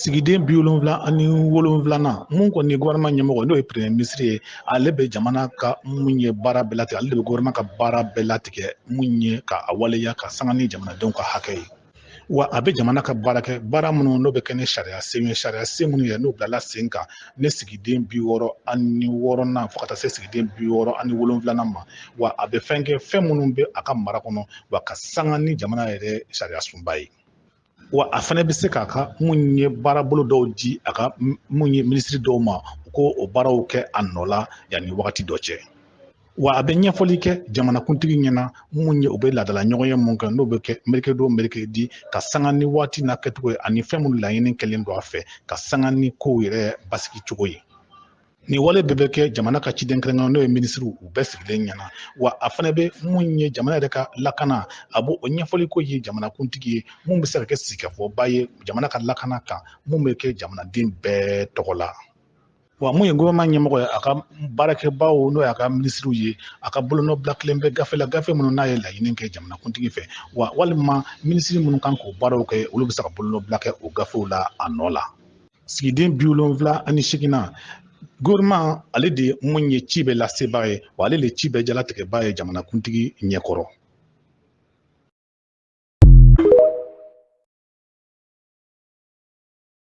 sigiden bi wolonwula ani wolonwulanan mun kɔni ye gouvernement ɲɛmɔgɔ n'o ye premier ministre ye ale bɛ jamana ka mun ye baara bɛɛ latigɛ ale de bɛ gouvernement ka baara bɛɛ latigɛ mun ye ka a waleya ka sanga ni jamanadenw ka hakɛ ye wa a bɛ jamana ka baara kɛ baara minnu n'o bɛ kɛ ni sariya sen ye sariya sen minnu ye n'o bilala sen kan ne sigiden bi wɔɔrɔ ani wɔɔrɔnan fo ka taa se sigiden bi wɔɔrɔ ani wolonwulanan ma wa a bɛ fɛn kɛ fɛn minnu bɛ a ka mara kɔnɔ wa ka sanga ni jamana yɛrɛ sariyasunba ye wa a fana bɛ se k'a ka mun ye baarabolo dɔw di a ka mun ye minisiri dɔw ma u k'o baaraw kɛ a nɔ la yanni wagati dɔ cɛ wa a bɛ ɲɛfɔli kɛ jamanakuntigi ɲɛna mun ye u bɛ laadala ɲɔgɔnye mun kɛ n'o bɛ kɛ mercredi o mercredi ka sanga ni waati n'a kɛcogo ye ani fɛn minnu laɲini kɛlen don a fɛ ka sanga ni kow yɛrɛ basigi cogo ye nin wale bɛɛ bɛ kɛ jamana ka ciden kɛrɛnkɛrɛn n'o ye minisiriw u bɛɛ sigilen ɲɛna wa a fana bɛ mun ye jamana yɛrɛ ka lakana a b'o ɲɛfɔli k'o ye jamanakuntigi ye mun bɛ se ka kɛ sigikafɔba ye jamana ka lakana kan mun bɛ kɛ jamanaden bɛɛ tɔgɔ la wa mun ye gouvernement ɲɛmɔgɔ ye a ka baarakɛbaaw n'o y'a ka minisiriw ye a ka bolonɔbila kɛlen bɛ gafe la gafe minnu n'a ye laɲini kɛ jamanakuntigi fɛ wa walima minisiri minnu kan k'o baaraw kɛ olu bɛ se ka bolonɔbila kɛ o gafew la a nɔ la sigiden bi wolonwula ani seginnan gouvernement ale de mun ye ci bɛɛ lasebaa ye wa ale de ci bɛɛ jalatigɛbaa ye jamanakuntigi ɲɛkɔrɔ